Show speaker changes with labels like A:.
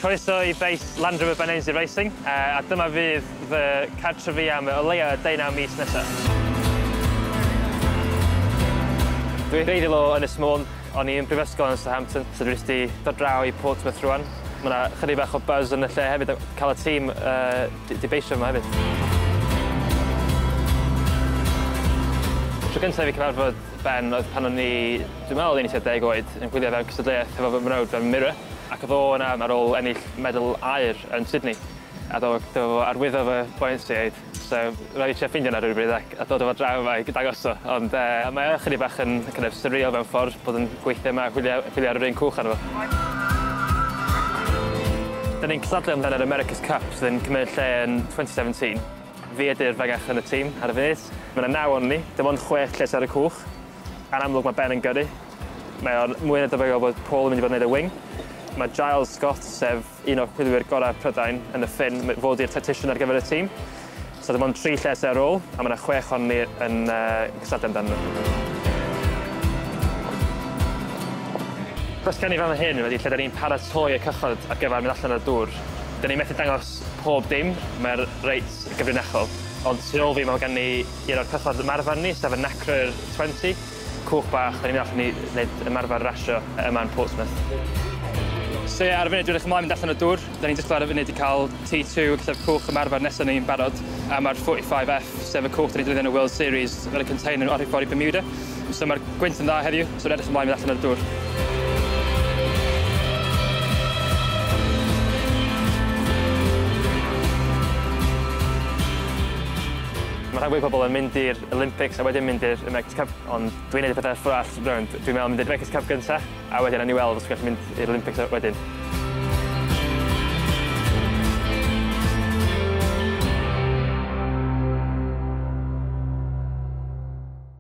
A: Croeso i beis Land Rover Benenzi Racing, a dyma fydd fy cartrefi am o leia 19 mis nesa. Dwi'n greiddiol o Ynys Môn, o'n i yn prifysgol yn Southampton, so dwi jyst di dod draw i Portsmouth rwan. Ma' 'na chydig bach o buzz yn y lle hefyd a ca'l y tîm yy di beisio yma hefyd. Tro gynta i fi cyfarfod Ben oedd pan o'n i, dwi'n meddwl oedd e'n 20 oed, yn gwylio fe mewn cystadleuaeth efo fy mrawd fe, Mirror, ac oedd o yna ar ôl ennill medal aur yn Sydney, a do- do- fo arwyddo fy buoyancy aid, so ro'n i'n trio ffeindio yna rywbryd ac a dod â fo draw yma i dangos o, ond yy mae o chydig bach yn kind of surreal mewn ffordd bod yn gweithio yma a chwilio chwilio ar yr un cwch arno fo. Dyn ni'n cystadlu amdan yr America's Cup sydd yn cymryd lle yn 2017. Fi ydy'r fengach yn y tîm ar y funud. Mae 'na naw ohonon ni, dim ond chwech lles ar y cwch. Yn amlwg mae Ben yn gyrru. Mae o'n mwy na debygol bod Paul yn mynd i fod yn neud y wing. Mae Giles Scott, sef un o'r chwilwyr gorau Prydain, yn y ffin i fod i'r tactician ar gyfer y tîm. So dim ond tri lles ar ôl, a mae 'na chwech ohonon ni yn cystadlu amdanyn nhw. Cwestiwn i fan hyn ydy lle 'da ni'n paratoi y cychod ar gyfer mynd allan ar y dŵr. 'Da ni methu dangos pob dim, mae'r reit gyfrinachol. Ond tu ôl fi mae gan ni un o'r cychod ymarfer ni, sef y Nacrur 20, cwch bach, dan ni'n mynd allan i wneud ymarfer rasio yma yn Portsmouth. So ie, ar y funud dwi'n edrych ymlaen mynd allan o dŵr, dan ni'n disgwyl ar y funud i cael T2, gallai'r cwch ymarfer nesaf ni'n barod, a mae'r 45F, sef y cwch dan ni'n defnyddio yn y World Series, fel y container o rhif ffordd i Bermuda. So mae'r gwynt yn dda heddiw, so rwy'n edrych ymlaen i fynd allan ar y dŵr. Mae rhai fwy pobl yn mynd i'r Olympics a wedyn mynd i'r America's Cup, ond dwi'n neud y pethau ffwrdd arall, rwy'n dwi'n meddwl mynd i'r America's Cup gynta, a wedyn ni weld os dwi'n gallu mynd i'r Olympics wedyn.